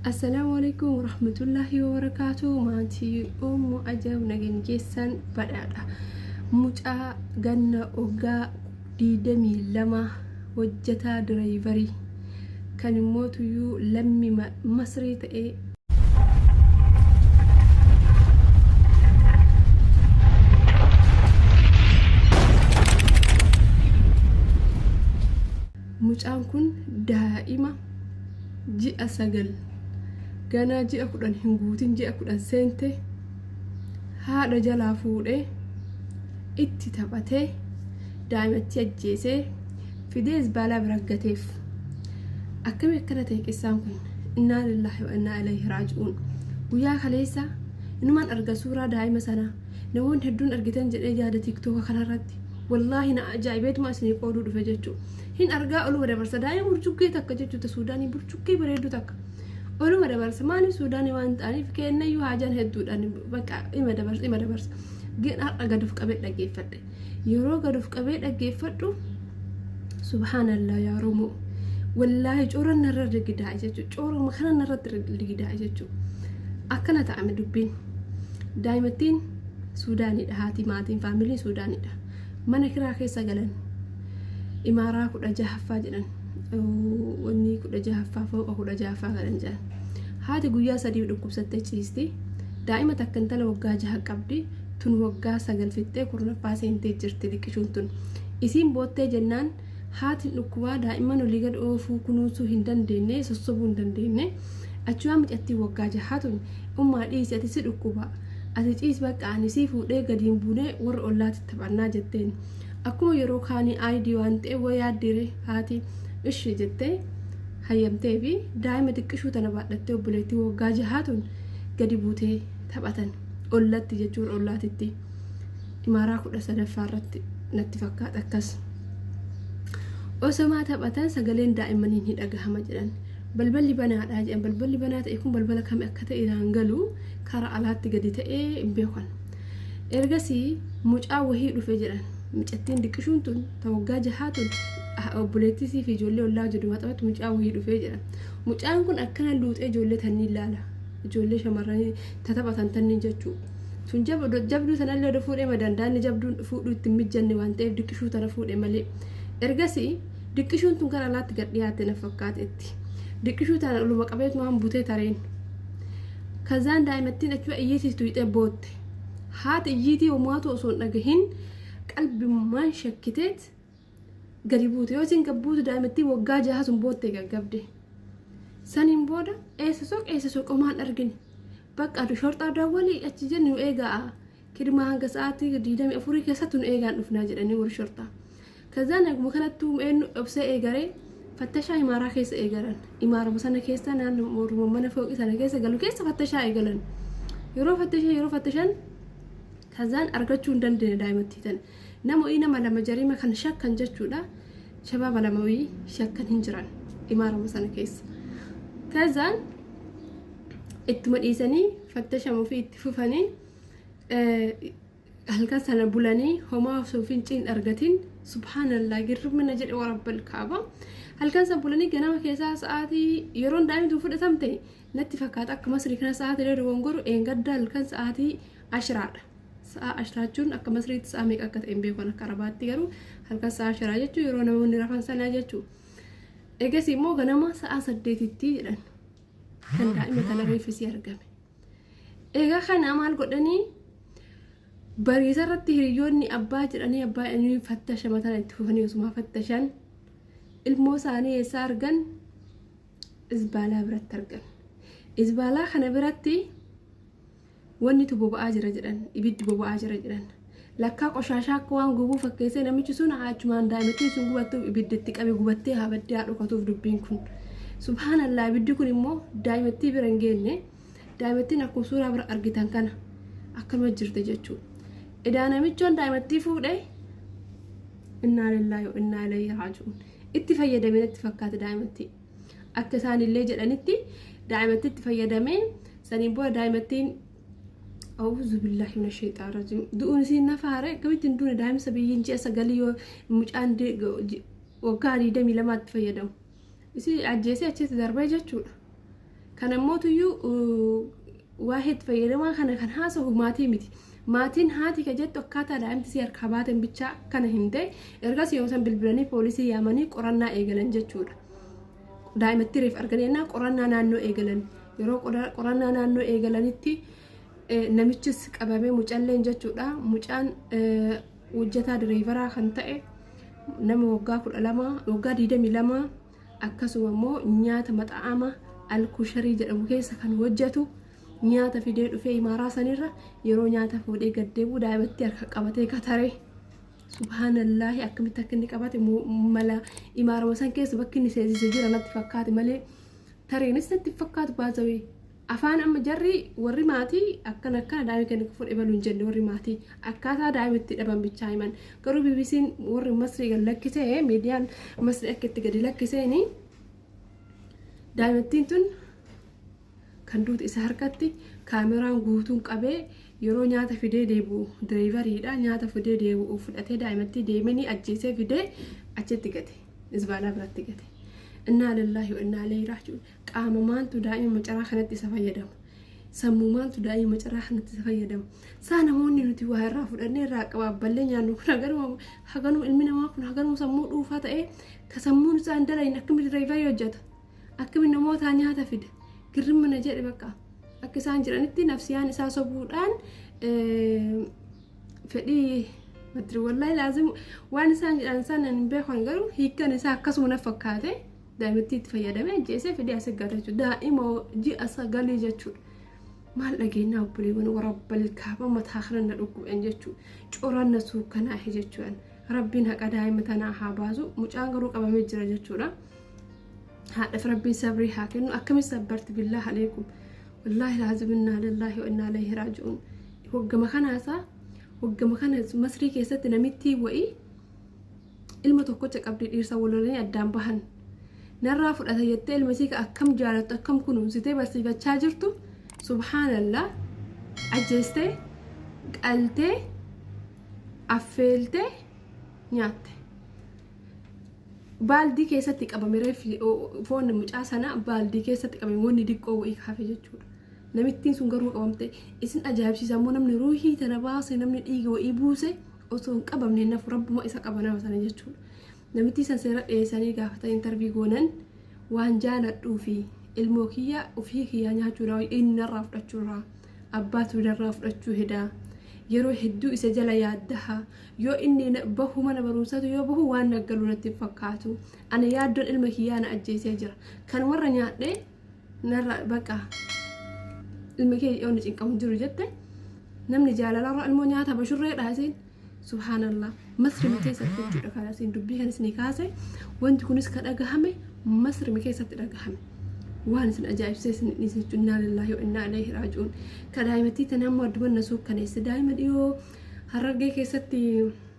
Assalaamu alaikum warahmatullaahi wabarakaatu maatii ummu ajaa'ib nagan keessan badhaadha mucaa ganna oggaa diidamii lama hojjetaa diraayivarii kan immoo tuyyuu lammi masrii ta'ee Mucaan kun daa'ima ji'a sagal ganaa ji'a kudhan hin guutin ji'a kudhan seente haadha jalaa fuudhee itti taphatee daa'imattii ajjeesee fidee zbaalaa bira gateef akkami akkana ta'e qissaan kun innaa lillaahi wa innaa ilayhi raaji'uun guyyaa kaleessa inumaan arga suuraa daa'ima sanaa namoonni hedduun argitan jedhee yaada tiiktooka kanarratti wallaahi na ajaa'ibeetuma isinii qooduu dhufe jechuu hin argaa oluma dabarsa daa'ima burcuqqee takka jechuuta suudaanii burcuqqee bareedduu takka oluma dabarsa maaliif suudaanii waan ta'aniif keennayyuu haajaan hedduudhaan bakka ima dabarsa ima dabarsa gin har'a gad of qabee dhaggeeffadhe yeroo gad of qabee dhaggeeffadhu subhaanallaa yaa romoo wallaahi coora narra rigidaa jechuu coora makana narratti rigidaa jechuu akkana ta'ame dubbiin daa'imattiin suudaanidha haati maatiin faamilii suudaanidha mana kiraa keessa galan imaaraa kudha jahaffaa jedhan wanni kudha jahaffaa fooqa kudha jahaffaa galan jedhan haati guyyaa sadii dhukkubsattee ciisti daa'ima takka intala waggaa jaha qabdi tun waggaa sagal fixxee kurnaffaa seentee jirti liqishuun tun. Isiin boottee jennaan haatin dhukkubaa daa'imman olii gad oofuu kunuunsuu hin dandeenne sossobuu hin dandeenne achumaan micattiin waggaa jahaa tun ummaa dhiisi ati si dhukkuba ati ciis baqqa ani sii fuudhee gadiin buunee warra ollaatti taphannaa jetteen akkuma yeroo kaanii aayidii waan ta'e wa yaaddiire haati ishi jettee hayyamtee fi daa'ima xiqqishuu tana baadhattee obboleettii waggaa jahaa tun gadi buutee taphatan. ollatti jechuun ollaatitti imaaraa kudha sadaffaa irratti natti fakkaata akkas osomaa taphatan sagaleen daa'immanii ni dhagahama jedhan balballi banaadhaa jedhan balballi banaa ta'e kun balbala kami akka ta'e iraan galu karaa alaatti gadi ta'ee hin beekan ergasii mucaa wahii dhufe jedhan mucattiin diqqishuun tun ta waggaa jahaa tun obboleettisii fi ijoollee ollaa jedhu maxabatti mucaa wahii dhufee jedhan mucaan kun akkana luuxee ijoollee tanni ilaala ijoollee shamarranii tataphatan tanni jechuu sun jabduu tanallee oda fuudhee madandaanni jabduun fuudhuu itti hin mijjanne waan ta'eef diqqishuu tana fuudhe malee ergasii diqqishuun tun kan alaatti gad dhiyaatte na fakkaatetti diqqishuu tana oluma qabeetu waan butee tareen kazaan daa'imattiin achuma iyyiitiis tuyxee bootte haati iyyiitii homaatu osoo hin dhagahin qalbimmaan shakkiteet gadi buute yoo isin gad buutu daa'imattiin waggaa jaha sun boottee gaggabde saniin booda eessa soq eessa soq omaan argine bakka adu shorxaa daawwalii achi jenni nu eegaa kidmaa hanga sa'aatii digdamii afurii keessatti nu eegaan dhufnaa jedhanii warri shorxaa kazaan eeguma kanattuu eenyu obsee eegaree fattashaa imaaraa keessa eegalan imaaruma sana keessa naannoo morma mana fooqii sana keessa galu keessa fattashaa eegalan yeroo fattashaa yeroo fattashan Kazaan argachuu hin dandeenye daa'imattii tan. Namo'ii nama lama jarima kan shakkan jechuudha. Shabaaba lamawii shakkan hin jiran imaarama sana keessa. Kazaan ittuma dhiisanii fattashamu fi itti fufanii halkan sana bulanii homaa osoo finciin argatin subhaanallaa girmina jedhe warabbal kaaba halkan sana bulanii ganama keessaa sa'aatii yeroon daa'imtu fudhatamte Natti fakkaata akka masrii kana sa'aatii irra dogongoru dheengadda halkan sa'aatii ashiraadha. Sa'a ashiraa jechuun akka masriitti sa'a meeqa akka ta'e hin beeku akka arabaatti garuu halkan sa'a ashiraa jechuun yeroo namoonni rafan sanaa jechuudha. Egas immoo ganama sa'a saddeetitti jedhan kan daa'ima kana reeffisii argame. Egaa kana maal godhanii bariisa irratti hiriyoonni abbaa jedhanii abbaa inni fattasha mataan itti fufanii osuma fattashan ilmoo isaanii eessaa argan Izbaalaa biratti argan. Izbaalaa kana biratti wannitu boba'aa jira jedhan, ibiddi boba'aa jira jedhan. Lakkaa qoshaashaa akka waan gubuu fakkeessee namichi sun achumaan daa'imattiin sun gubattuuf ibidda itti qabe gubattee haa baddee haa dhokatuuf dubbiin kun. Subhaanallaa ibiddi kun immoo daa'imattii bira hin geenne daa'imattiin akkuma suuraa bira argitan kana akkanuma jirti jechuudha. Edaa namichoon daa'imattii fuudhee innaa lillaahi wa innaa ilayhi raaji'uun. itti fayyadame natti fakkaate daa'imattii. Akka isaan illee jedhanitti daa'imatti itti fayyadamee saniin booda daa'imattiin Awuzu billahi mina sheexaa rajim. Du'uun isiin nafa haare akkamitti hin duune daa'imsa biyyiin ji'a sagalii yoo mucaan waggaa digdamii lamaatti fayyadamu. Isii ajjeesee achitti darbee jechuudha. Kan ammootuyyuu waa'ee itti fayyadamaa kana kan haasahu maatii miti. Maatiin haati ka jettu akkaataa daa'imti si harkaa baateen bichaa kana himte ergas yoom san bilbilanii poolisii yaamanii qorannaa eegalan jechuudha. Daa'imattii reef arganii ennaa qorannaa naannoo eegalan yeroo qorannaa naannoo eegalanitti namichis qabamee mucalleen jechuudha. Mucaan hojjetaa direevaraa kan ta'e nama waggaa kudha lama waggaa digdamii lama akkasuma immoo nyaata maxa'ama alkusharii jedhamu keessa kan hojjetu nyaata fidee dhufee imaaraa sanirra yeroo nyaata fuudhee gaddeebuu daa'imatti harka qabatee kataree subhaanallaahi akkamitti akka inni qabate mala imaarama san keessa bakki inni seensise jira natti fakkaate malee tareenis natti fakkaatu baazawee Afaan amma jarri warri maatii akkan akkana daa'ima keenya akka fudhe balu hin jenne warri maatii akkaataa daa'ima itti dhaban bichaa himan garuu BBC'n warri masrii gad lakkisee miidiyaan masrii akka itti gadi lakkiseeni daa'imattiin tun kan duute isa harkatti kaameraan guutuun qabee yeroo nyaata fidee deebi'u direevariidha nyaata fidee deebi'u fudhatee daa'imattii deemanii ajjeesee fidee achitti gate isbaalaa biratti gate innaa lillaahi wa innaa ilayhi raaji'uun Qaama maantu daa'ima macaraa kanatti isa fayyadama? Sammuu maantu daa'ima macaraa kanatti isa fayyadama? Saa namoonni nuti waa irraa fudhannee irraa qabaabballee nyaannu kun haganuma haganuma ilmi namaa kun haganuma sammuu dhuufaa ta'ee ka sammuun isaa hin dalagne akkamitti diriirii hojjeta? Akkamitti namootaa nyaata fida? Girrimma na jedhe bakka. Akka isaan jiranitti nafsiyaan isaa sobuudhaan fedhii matri wallahi laazim waan isaan jedhan sana hin beekan garuu hiikan isaa akkasuma na fakkaate Daa'imattii itti fayyadamee ajjeesee fidee as eeggata jechuudha. Daa'ima ji'a sagalii jechuudha. Maal dhageenyaa obboleewwan warra balkaaba mataa kana na dhukkubeen jechuudha. Coraan na suukanaahe jechuudha. Rabbiin haqa daa'ima tanaa haa baasu. Mucaan garuu qabamee jira jechuudha. Haadhaaf rabbiin sabrii haa kennu. Akkamiin sabbarti billaa haleekum. Wallaahi laazim innaa lillaahi wa innaa ilayhi raaji'uun. Hoggama kanaasaa hoggama kana masrii keessatti namittii wa'ii ilma tokkocha qabdi dhiirsa walolanii addaan bahan narraa fudhata jettee ilma isii akkam jaalattu akkam kunuunsitee barsiifachaa jirtu subhaanallaa ajjeestee qaltee affeeltee nyaatte. Baaldii keessatti qabame reeffi foon mucaa sanaa baaldii keessatti qabame wanni diqqoo wayii kaafe jechuudha. Namittiin sun garuu qabamte isin ajaa'ibsiisa immoo namni ruuhii tana baase namni dhiiga wayii buuse osoo hin qabamne nafu rabbuma isa qaba nama sana jechuudha. Namittii san seera dhiyeessanii gaafatan intarvii goonan waan jaaladhuu fi ilmoo kiyya ofii kiyyaa nyaachuu irraa inni narraa fudhachuu irraa abbaatu narraa fudhachuu hedaa yeroo hedduu isa jala yaaddaha yoo inni na- bahu mana barumsaatu yoo bahu waan naggalu natti hin fakkaatu ana yaaddoon ilma kiyyaa na ajjeesee jira kan warra nyaadhee narra bakka ilmi kee yoo na cinqamu hin jiru jette namni jaalalarra ilmoo nyaata bashurreedha isiin subhaanallah masrimi keessatti jechuudha kan isiin dubbii kan isinii kaase wanti kunis ka dhagahame masrimi keessatti dhagahame waan isin ajaa'ibsee isin dhiise jechuun innaa lillaahi wa innaa ilaihi raaji'uun ka daa'imattii tana ammoo adduman na suukkaneesse daa'ima dhiyoo harargee keessatti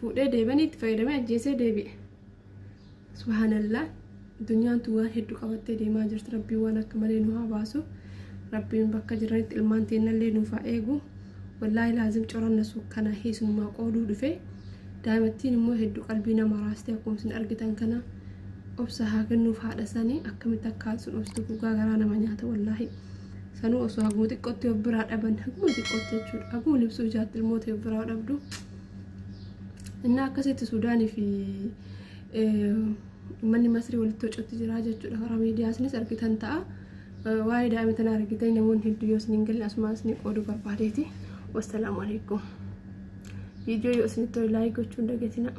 fuudhee deebanii itti fayyadamee ajjeesee deebi'e subhaanallaa addunyaan tun waan hedduu qabattee deemaa jirti rabbiin waan akka malee nu haa baasu rabbiin bakka jiranitti ilmaan teennallee nuuf haa eegu wallaahi laazim coranna suukkana hiisunumaa qooduu dhufe daa'imattiin immoo hedduu qalbii nama raastee akkuma isin argitan kana obsa haa kennuuf haadha sanii akkamitti akka haadha sun obsitu dhugaa garaa nama nyaata wallaahi sanuu osoo haguma xiqqootti of biraa dhaban haguma xiqqootti jechuudha haguma libsuu ijaatti ilmoota of biraa dhabdu Innaa akkasitti Suudaanii fi uummanni Masrii walitti wacuutti jira jechuudha. Karaa miidiyaasnis argitan ta'a. Waa'ee daa'ima tanaa argitan namoonni hedduu yoo isin hin galle asumaan isin qooduu barbaadeeti. Wassalaamu alaikum. Viidiyoo yoo isinitti tole laayik gochuu hin dagatinaa.